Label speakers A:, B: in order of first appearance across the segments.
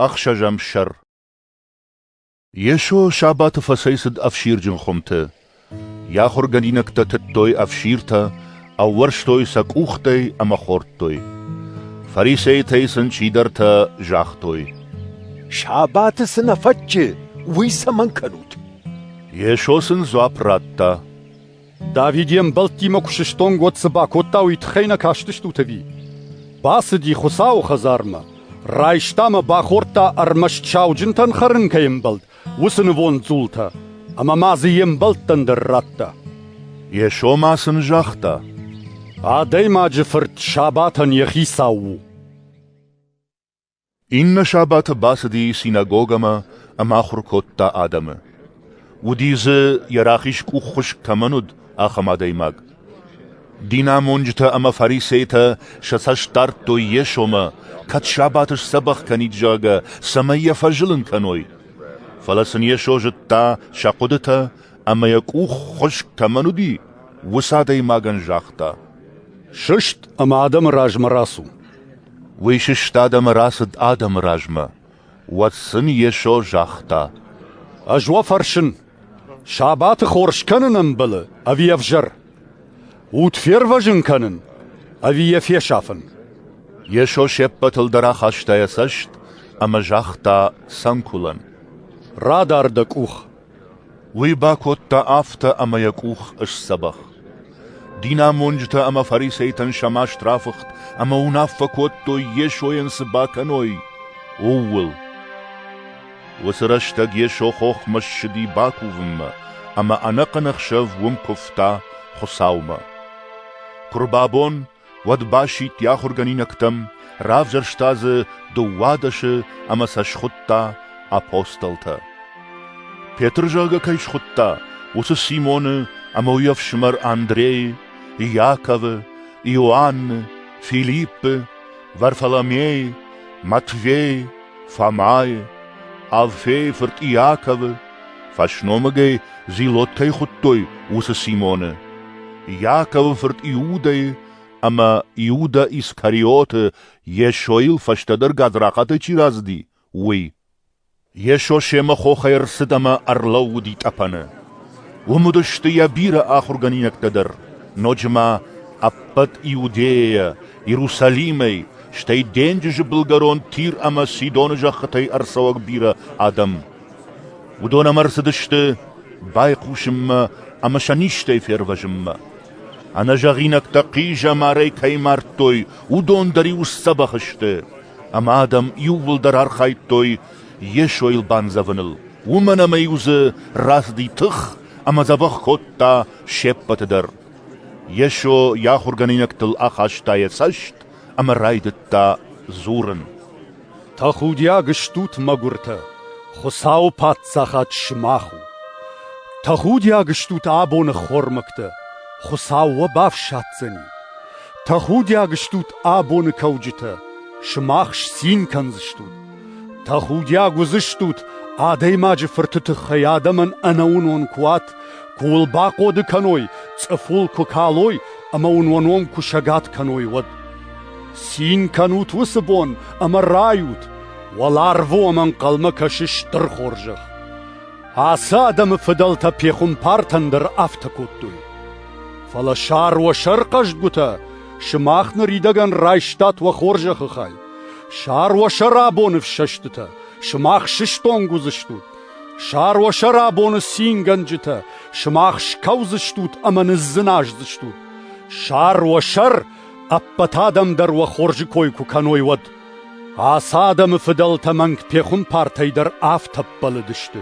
A: Ӕхсӕзӕм сӕр Йесо сабаты фӕцӕйцыд ӕфсирджын хуымты. Йӕ ахуыргӕнинӕгтӕ тыдтой ӕфсиртӕ, ӕууӕрстой сӕ къухтӕй ӕмӕ хордтой. Фарисейтӕй сын чидӕртӕ загътой: «Сабаты
B: цы нӕ фӕтчы, уый цӕмӕн кӕнут?» Йесо
A: сын дзуапп радта: Давид
C: йе мбӕлттимӕ куы сыстонг, уӕд цы бакодта, уый тыххӕй нӕ кастыстут ӕви? Бацыди Хуыцауы хӕдзармӕ, райста мӕ бахордта ӕрмӕст сауджынтӕн хӕрын кӕй ӕмбӕлд, уыцы нывонд дзултӕ, ӕмӕ ма дзы йе мбӕлттӕн дӕр радта. Йесо ма
A: сын загъта:
C: Адӕймаджы фырт сабатӕн йӕ хицау у.
A: Иннӕ сабаты бацыди синагогӕмӕ ӕмӕ ахуыр кодта адӕмы. Уыди дзы, йӕ рахиз къуххуыскъ кӕмӕн уыд, ахӕм адӕймаг. Динамонджытӕ ӕмӕ фарисейтӕ сӕ цӕст дардтой Йесомӕ, кӕд сабаты сдзӕбӕх кӕнид, зӕгъгӕ, цӕмӕй йӕ фӕзылын кӕной. Фӕлӕ сын Йесо зыдта сӕ хъуыдытӕ ӕмӕ йӕ къуххуыскъ кӕмӕн уыди, уыцы адӕймагӕн загъта: «Сыст
C: ӕмӕ адӕмы размӕ рацу!» Уый
A: сыстад ӕмӕ рацыд адӕмы размӕ. Уӕд сын Йесо загъта: «Ӕз уӕ
C: фӕрсын, сабаты хорз кӕнын ӕмбӕлы, ӕви ӕвзӕр? Уд фервӕзын кӕнын, ӕви йӕ фесафын?» Йесо
A: се ппӕтыл дӕр ахаста йӕ цӕст ӕмӕ загъта цӕнкуылӕн: «Радар
C: дӕ къух!» Уый
A: бакодта афтӕ, ӕмӕ йӕ къух ысдзӕбӕх. Динамонджытӕ ӕмӕ фарисейтӕн сӕ маст рафыхт ӕмӕ уынаффӕ кодтой, Йесойӕн цы бакӕной, ууыл. Уыцы рӕстӕг Йесо хохмӕ ссыди бакувынмӕ, ӕмӕ ӕнӕхъӕн ӕхсӕв уым куывта Хуыцаумӕ. Куы рбабон, уӕд басидт йӕ ахуыргӕнинӕгтӕм, равзӕрста дзы дыууадӕсы ӕмӕ сӕ схуыдта апостолтӕ. Петр зӕгъгӕ кӕй схуыдта, уыцы Симоны ӕмӕ уый ӕфсымӕр Андрейы, Иаковы, Иоанны, Филиппы, Варфоломейы, Матвейы, Фомайы, Алфейы фырт Иаковы, Фӕсномыгӕй зилотӕй хуыдтой уыцы Симоны. Иаковы фырт Иудӕйы ӕмӕ Иуда Искариоты Йесойыл фӕстӕдӕр гадзрахатӕй чи разыди, уый. Йесо семӕ хохӕй ӕрцыд ӕмӕ ӕрлӕууыди тъӕпӕны. Уым уыдысты йӕ бирӕ ахуыргӕнинӕгтӕ дӕр, ноджы ма ӕппӕт Иудейӕ, Иерусалимӕй, стӕй денджызы былгӕрон Тир ӕмӕ Сидоны зӕххытӕй ӕрцӕуӕг бирӕ адӕм. Уыдон ӕмӕ рцыдысты байхъусынмӕ ӕмӕ сӕ низтӕй фервӕзынмӕ. Ӕнӕзӕгъинӕгтӕ хъизӕмарӕй кӕй мардтой, уыдон дӕр-иу сдзӕбӕх сты, ӕмӕ адӕм иууылдӕр архайдтой Йесойыл бандзӕвыныл. Уымӕн ӕмӕ-иу дзы рацыди тых ӕмӕ дзӕбӕх кодта се ппӕты дӕр. Йесо йӕ ахуыргӕнинӕгтыл ахаста йӕ цӕст ӕмӕ райдыдта дзурын:
C: «Тӕхудиаг стут, мӕгуыртӕ! Хуыцауы паддзахад сымах у! Тӕхудиаг стут абоны ххормӕгтӕ! Хуыцау уӕ бафсаддзӕни! Тӕхудиаг стут абоны кӕуджытӕ! Сымах сцин кӕндзыстут! Тӕхудиаг уыдзыстут, адӕймаджы фырты тыххӕй адӕмӕн ӕнӕуынон куы уат, куы уыл бахъоды кӕной, цъыфыл куы калой ӕмӕ уын уӕ ном куы сӕгат кӕной, уӕд. Цин кӕнут уыцы бон ӕмӕ райут, уӕларвы уӕм ӕнхъӕлмӕ кӕсы стыр хорзӕх. Ацы адӕмы фыдӕлтӕ пехуымпартӕн дӕр афтӕ кодтой. Фӕлӕ сӕр уӕ сӕрхъӕзгуытӕ сымах ныридӕгӕн райстат уӕ хорзӕхы хай. Сар уӕ сӕрӕбоны фсӕстытӕ, сымах сыстонг уыдзыстут. Сар уӕ сӕрӕбоны цингӕнджытӕ, сымах скӕудзыстут ӕмӕ ныдздзыназдзыстут. Сар уӕ сӕр, ӕппӕт адӕм дӕр уӕ хорзы кой куы кӕной, уӕд. Ацы адӕмы фыдӕлтӕ мӕнг пехуымпартӕй дӕр афтӕ ӕппӕлыдысты.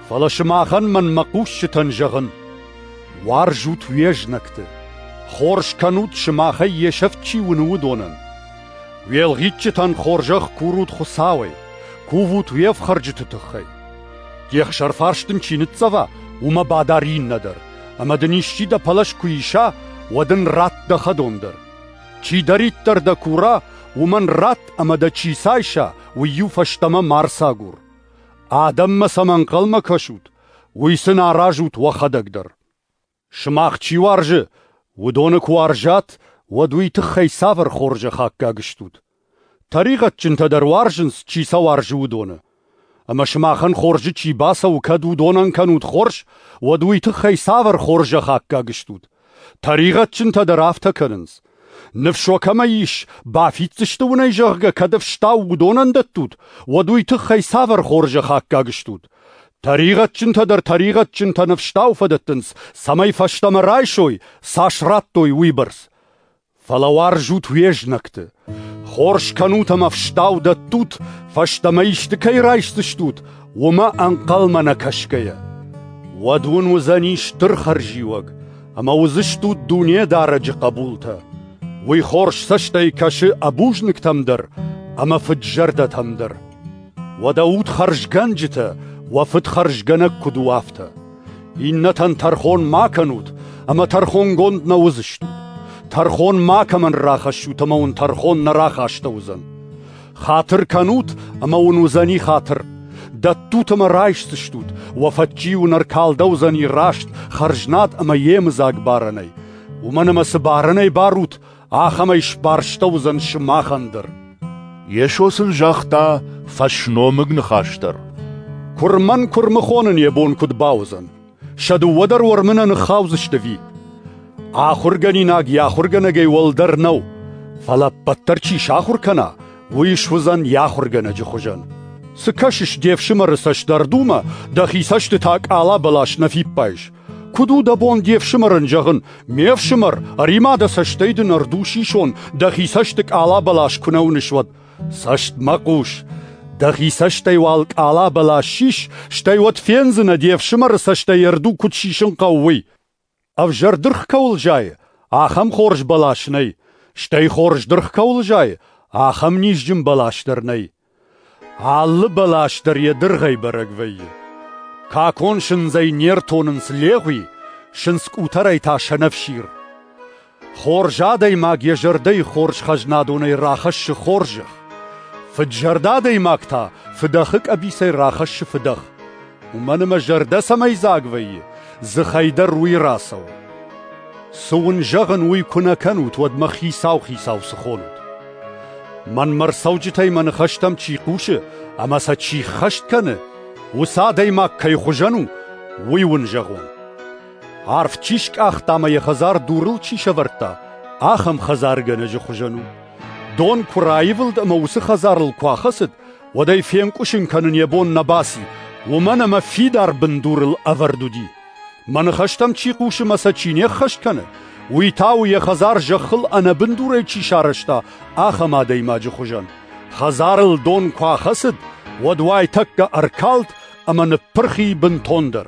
C: Фӕлӕ сымахӕн мӕн мӕ хъусджытӕн зӕгъын: уарзут уе знӕгты, хорз кӕнут сымахӕй йе сӕфт чи уыны, уыдонӕн. Уӕлгъитджытӕн хорзӕх курут Хуыцауӕй, кувут уе фхӕрджыты тыххӕй. Де хсӕрфарс дын чи ныццӕва, уымӕ бадар иннӕ дӕр, ӕмӕ дын исчи дӕ пӕлӕз куы иса, уӕд ын ратт дӕ хӕдон дӕр. Чидӕриддӕр дӕ кура, уымӕн ратт ӕмӕ дӕ чи цайса, уый-иу фӕстӕмӕ ма рцагур. Адӕммӕ сӕм ӕнхъӕлмӕ кӕсут, уый сын аразут уӕхӕдӕг дӕр. Сымах чи уарзы, уыдоны куы уарзат, уӕд уый тыххӕй цавӕр хорзӕх аккаг стут? Тӕригъӕдджынтӕ дӕр уарзынц, чи сӕ уарзы, уыдоны. Ӕмӕ сымахӕн хорзы чи бацӕуы, кӕд уыдонӕн кӕнут хорз, уӕд уый тыххӕй цавӕр хорзӕх аккаг стут? Тӕригъӕдджынтӕ дӕр афтӕ кӕнынц. Ныфсо кӕмӕй ис, бафиддзысты уынӕй, зӕгъгӕ, кӕд ӕфстау уыдонӕн дӕттут, уӕд уый тыххӕй цавӕр хорзӕх аккаг стут? Тӕригъӕдджынтӕ дӕр тӕригъӕдджынтӕ ныфстау фӕдӕттынц, цӕмӕй фӕстӕмӕ райсой, цас радтой, уыйбӕрц. Фӕлӕ уарзут уе знӕгты. Хорз кӕнут ӕмӕ ӕфстау дӕттут, фӕстӕмӕ исты кӕй райсдзыстут, уымӕ ӕнхъӕлмӕ нӕ кӕсгӕйӕ. Уӕд уын уыдзӕни стыр хӕрзиуӕг, ӕмӕ уыдзыстут Дунедарӕджы хъӕбултӕ. Уый хорз цӕстӕй кӕсы ӕбузныг-тӕм дӕр ӕмӕ фыд-зӕрдӕтӕм дӕр. Уӕдӕ ут хӕрзгӕнджытӕ, уӕ фыд хӕрзгӕнӕг куыд у, афтӕ. Иннӕтӕн тӕрхон ма кӕнут, ӕмӕ тӕрхонгонд нӕ уыдзыстут. Тӕрхон макӕмӕн рахӕссут, ӕмӕ уын тӕрхон нӕ рахастӕуыдзӕн. Хатыр кӕнут, ӕмӕ уын уыдзӕни хатыр. Дӕттут ӕмӕ райсдзыстут, уӕ фӕдджи уын ӕркалдӕудзӕни раст, хӕрзнад ӕмӕ йемыдзаг барӕнӕй. Уымӕн ӕмӕ цы барӕнӕй барут, ахӕмӕй сбарстӕуыдзӕн сымахӕн дӕр. Йесо
A: сын загъта фӕсномыг ныхас дӕр. Куырмӕн
C: куырмыхонын йӕ бон куыд бауыдзӕн? Сӕ дыууӕ дӕр уӕрмы нӕ ныххаудзысты ӕви? Ахуыргӕнинаг йӕ ахуыргӕнӕгӕй уӕлдӕр нӕу, фӕлӕ ӕппӕтдӕр чи сахуыр кӕна, уый суыдзӕн йӕ ахуыргӕнӕджы хуызӕн. Цы кӕсыс де фсымӕры цӕстдардумӕ, дӕхи цӕстытӕ къала бӕлас нӕ фиппайыс. Куыд у дӕ бон де фсымӕрӕн зӕгъын, ме фсымӕр, ӕри-ма дӕ цӕстӕй дын ӕрдуш исон, дӕхи цӕсты къала бӕлас куы нӕ уыныс, уӕд. Цӕст мӕ хъус, дӕхи цӕстӕй уал къала бӕлас сис, стӕй уӕд фендзынӕ, де фсымӕры цӕстӕй ӕрду куыд сисын хъӕуы, уый. Ӕвзӕр дыргъ кӕуыл зайы, ахӕм хорз бӕлас нӕй, стӕй хорз дыргъ кӕуыл зайы, ахӕм низджын бӕлас дӕр нӕй. Алы бӕлас дӕр йӕ дыргъӕй бӕрӕг вӕййы. Какон сындзӕй не ртонынц легъуи, сындз къутӕрӕй та сӕнӕфсир. Хорз адӕймаг йӕ зӕрдӕйы хорз хӕзнадонӕй рахӕссы хорзӕх, фыдзӕрдӕ адӕймаг та фыдӕхы къӕбицӕй рахӕссы фыдӕх. Уымӕн ӕмӕ зӕрдӕ цӕмӕйдзаг вӕййы, дзыхӕй дӕр уый рацӕуы. Цы уын зӕгъын, уый куы нӕ кӕнут, уӕд мӕ хицау-хицау цы хонут? Мӕнмӕ рцӕуджытӕй мӕ ныхӕстӕм чи хъусы ӕмӕ сӕ чи ххӕст кӕны, уыцы адӕймаг кӕй хуызӕн у, уый уын зӕгъон. Арв чи скъахта ӕмӕ йӕ хӕдзар дурыл чи сӕвӕрдта, ахӕм хӕдзаргӕнӕджы хуызӕн у. Дон куы раивылд ӕмӕ уыцы хӕдзарыл куы ахӕцыд, уӕд ӕй фенкъуысын кӕнын йӕ бон нӕ баци, уымӕн ӕмӕ фидар бындурыл ӕвӕрд уыди. Мӕ ныхӕстӕм чи хъусы мӕ сӕ чи не ххӕст кӕны, уый та у, йӕ хӕдзар зӕххыл ӕнӕбындурӕй чи сарӕзта, ахӕм адӕймаджы хуызӕн. Хӕдзарыл дон куы ахӕцыд, уӕд уайтӕккӕ ӕркалд ӕмӕ ныппырхи бынтондӕр.